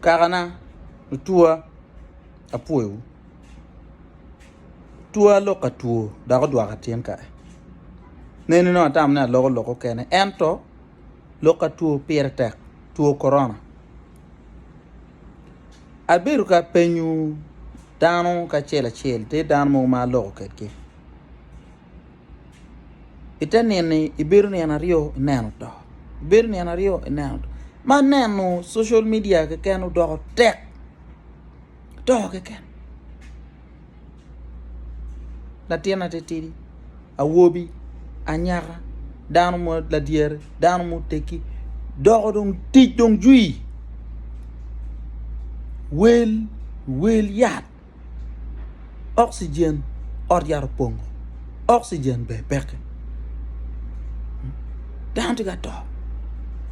Kakana, lucwa, apwoyowu. Twaa alok ka two dok odwoko atin kare. Neni nongo atamo ni aloko lok okene ento lok ka two pire tek, two korona. Abedo ka penyo dano kacel acel, tye dano mogo ma aloko kedgi. ite nino-ni ibedo nino aryo ineno oto, ibedo nino aryo ineno oto, ma neno social media keken odoko tek, oto keken, latin atitidi, awobi, anyaka, dano ma ladyere, dano ma otegi doko dong tic dong jwi, wel, wel yat. oxygen ot yat opongo oxygen ber peke dano tye ka to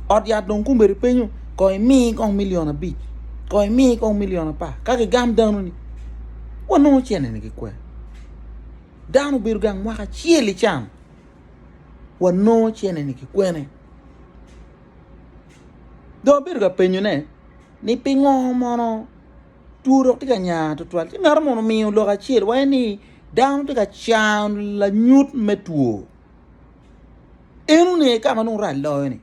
ot yat dong komedi penyo kong imi kong million abic kong imi kong million apar ka gigam dano ni wanongo cene ni gikwer dano obedo gang mwaka acel ican wanongo cene ni gikwene dong abedo ka penyo ne ni pingo mono Two dok tye ka nya tutwal. Ci mito mono miyo lok acel waye ni dano tye ka cano lanyut me two. Enoni aye ka ma nongo rac loyo ni.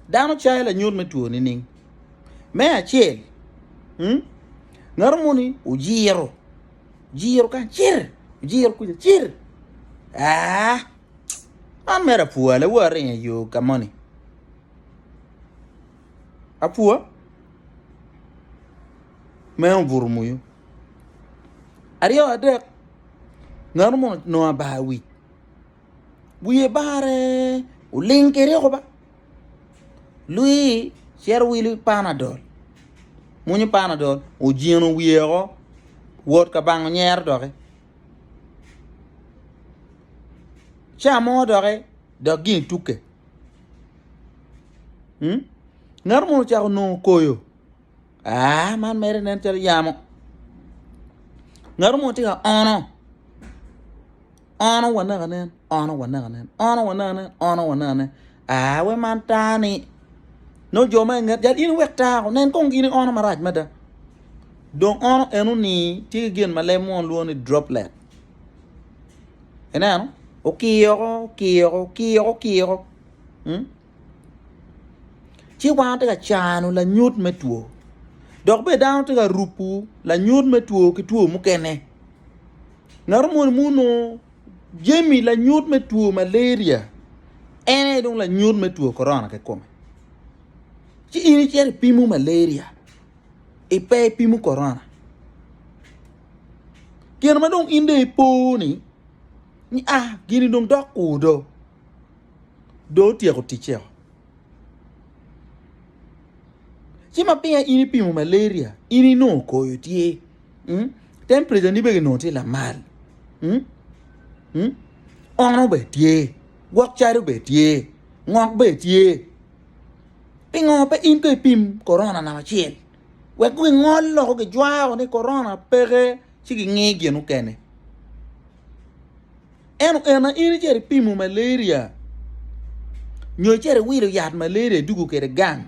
Dano cayo lanyut me two nining? Me acel, hmm? ngato moni ojiro, jiro kan cir, ojiro kuca cir. Ah, man mera pwale wa ringe yo ka moni. apwa meno obuto moyo aryo adek ngeno mo nongo abar wic wiye bare oling kedi oko ba lwii cito wilo panadol mwonyo panadol ojino wiye woko wot ka bango nyero doki ca mo doki dok gin tukke. Ngat mo ocako nongo koyo. Ah, man mere nen calo yamo. Ngat mo tye ka ono. Ono wanaka nen, ono wanaka nen, ono wanaka nen, ono wanaka nen. Ah, we man tani. No jo ma inget yat in wek tako nen kong gini ono marac mada. Dong ono eno ni tye ki gin ma leb mo lwongo ni droplet. ineno okiyoko okiyoko okiyoko okiyoko hmm? ci wan tye ka cano lanyut me two dok bene dano tye ka rupu lanyut me two ki two mukene ngato moni muno jemi lanyut me two malaria en aye dong lanyut me two korona kikome ci in icito ipimo malaria ipe ipimo korona Gin ma dong in dong ipo ni ni a ah, gini dong dok kur do. Do otyeko ticce. Ci ma pinga in ipimo malaria, in inongo koyo tye. Hmm? Temperature ni bege nongo tye lamal. Hmm? Hmm? Ono be tye. Gwok calo be tye. Ngok be tye. Pingo pe in ko ipim corona namba acel. wek gingol loko gijwao ni korona peke ci gingi gin mukene. Eno ena in iceri pimo malaria nyo iceri wilo yat malaria idugo kede gang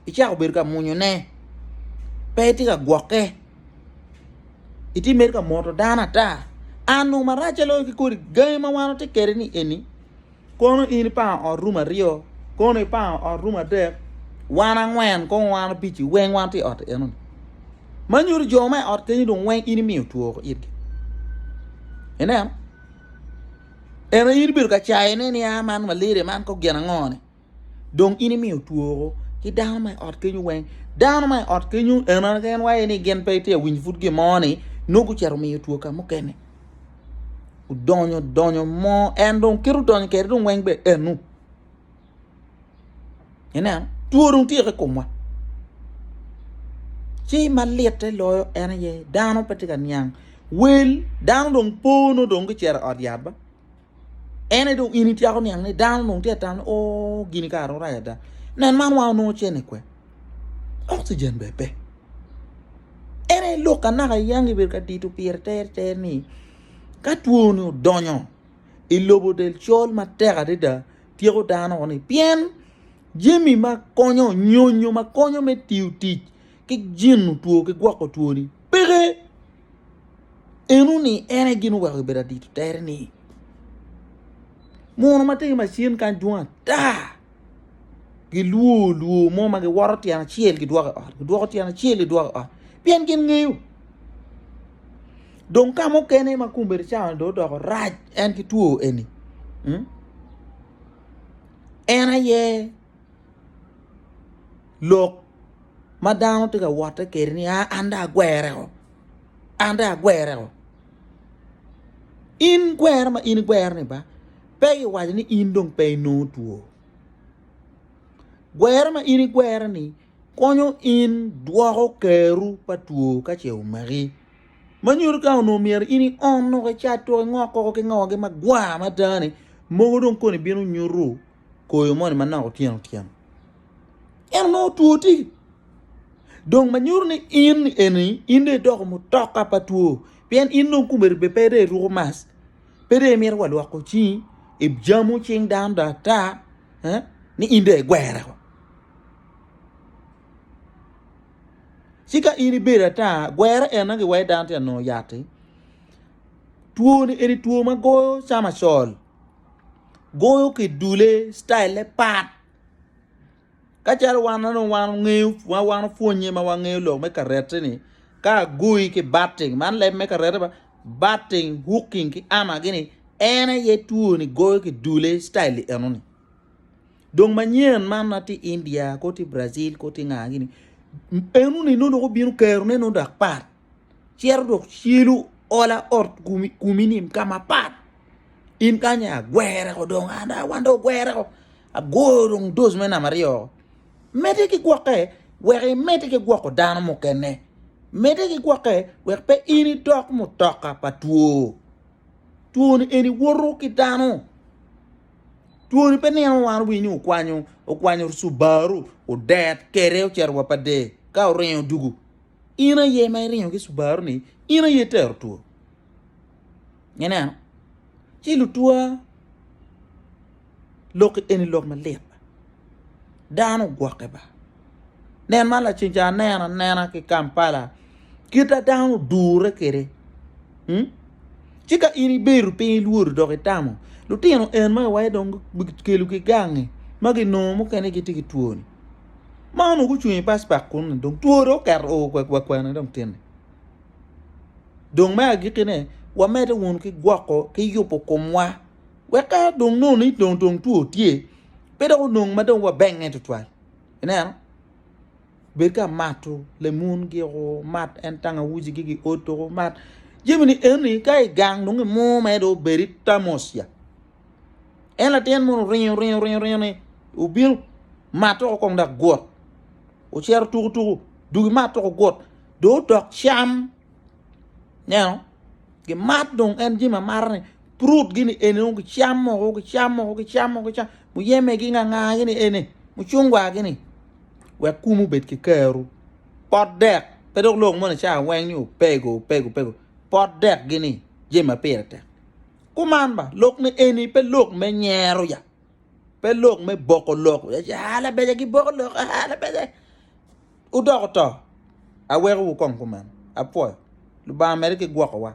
icako bedo ka munyone pe itye ka gwokke itye mere ka moto dano ata an nongo maracce loyo ki kodi gangi ma wan watye kede ni eni Kono in ipango ot rum aryo, kono ipango ot rum adek, wan angwen, kono wan abic-ci weng wan tye i ot enoni. Ma nyuto jo ma i ot kenyo dong weng in imiyo two woko itgi. Ineno? Eno in ibedo ka cayone ni a man malaria man ko gin ango-ni. Dong in imiyo two woko ki dano ma i ot kenyo weng. Dano ma i ot kenyo eno en waye ni gin pe itye awinyo pud gin mo-ni nongo gucito miyo two ka mukene. odonyo donyo mo en dong kit odonyo kede dong weng bene enu ineno two dong tye ki komwa ci ma litte loyo en aye dano pe tye ka niang wel dano dong po nongo dong gicito i ot yat ba en aye dong in ityeko niang ni dano dong tye ka tam ni oo gini kara orayo ada nen man wa onongo cene kwe oxygen bene pe en aye lok anaka yangi bedo ka dito pire ter ter ni ka two ni odonyo i lobo del col matek adada tyeko dano ni pien jami ma konyo nyonyo ma konyo me tiyo tic ki jino two ki gwoko two ni peke. Eno ni en aye gin oweko ibedo adito tere ni mono ma tye ki macin kany dwong ata gilwor lwor mo ma giwoto tyen acel gidwoko i ot gidwoko tyen acel gidwoko i ot pien gin ngeyo dong ka mukene ma kombeddi cawa ni dong odoko rac en ki two eni hmm? en aye lok ma dano tye ka wotte kwede ni an dong agwereo, an dong agwereo. In gwero ma in igwero-ni ba pe giwaco ni in dong pe inongo two. Gwero ma in igwero-ni konyo in dwoko keru pa two ka ce omaki. Ma nyuto ka onongo myero in iom nongo icat tuko ingok koko ki ngogi magwar mada-ni mogo dong koni bino nyutu. koyo moni manok otyeno tyeno en onongo two tye dong ma nyuto ni in eni in dong idoko mutoka pa two pien in dong kome ribbe pe dong iruko mask pe dong imito wa lwoko cingi ijamu cing dano dong ata ni in dong igwere wa ci ka in ibedo ata gwere ena giwaci dano tye ka nongo yatti two ni eni two ma goyo cama col. goyo ki dule cityle pat kacalo wan onongo wan ongeyo ma wan opwonnye ma wangeyo lok me karette ni ka agoyi ki batting man leb me karette ba batting hooking ki ama gini en aye two ni goyo ki dule cityle eno ni dong manyen man ma tye India ko tye Brazil ko tye nga gini eno ni nongo dong obino kero ne nongo dok pat cito dok celu ola ot komi ni ka mapat in kany aye agwere woko dong an dong wan dong ogwere woko agoyo dong doc me namba aryo woko mede ki gwokke wek imedde ki gwoko dano mukene mede ki gwokke wek pe in idok mutoka pa two, twoni eni woto ki dano twoni pe nino wa wi ni okwanyo okwanyo cubaru odet kede ocito wa pa der ka oringo dugu In aye ma iringo ki Subaru ni in aye itero two. Ineno? Ci lutwa lok eni lok malit. Dano ogwokke ba. Nen ma lacen ca anena nena ki Kampala kita dano odure kede. Hmm? Ci ka in ibedo piny ilwodo dok itamo lutino en ma iwaye dong gikelo ki gangi ma ginongo mukene gitye ki twoni. ma onongo gucung i bas bak kunu dong two dong oketo oo wakwene dong tyen-ni dong me agikkine wamedde wunu ki gwoko ki yubo komwa wek ka dong nongo ni dong dong two tye pe dok onong ma dong wabenge tutwal ineno bed ka mato lemun giko mat en tangawuji gi gi oto mat jami ni eni ka igang dong imur mere dong obedi tamosia En latin munu oringo oringo oringo oringo ni obino mato ko kong dak gut. Ocero tuku tuku dugi mat toko gut. Do dok cam. Neno. Gi mat dong en jim amara ni prut gini eni o gi cam mo o gi cam mo o gi cam mo gi cam. Mu yeme gi nga nga gini eni. Mu chungwa gini. Wek kumu bed ki keru. Pot dek. Pedok lok mo ni cha weng ni o pego o pego o pego. Pot dek gini jim apire tek. Kuman ba, lok ni eni pe lok me nyero ya, pe lok me boko lok, aa labeja giboko lok, aa labeja wudoko to, aweko wu kong kuman, apwoyo, Lubanga mede ki gwokowa.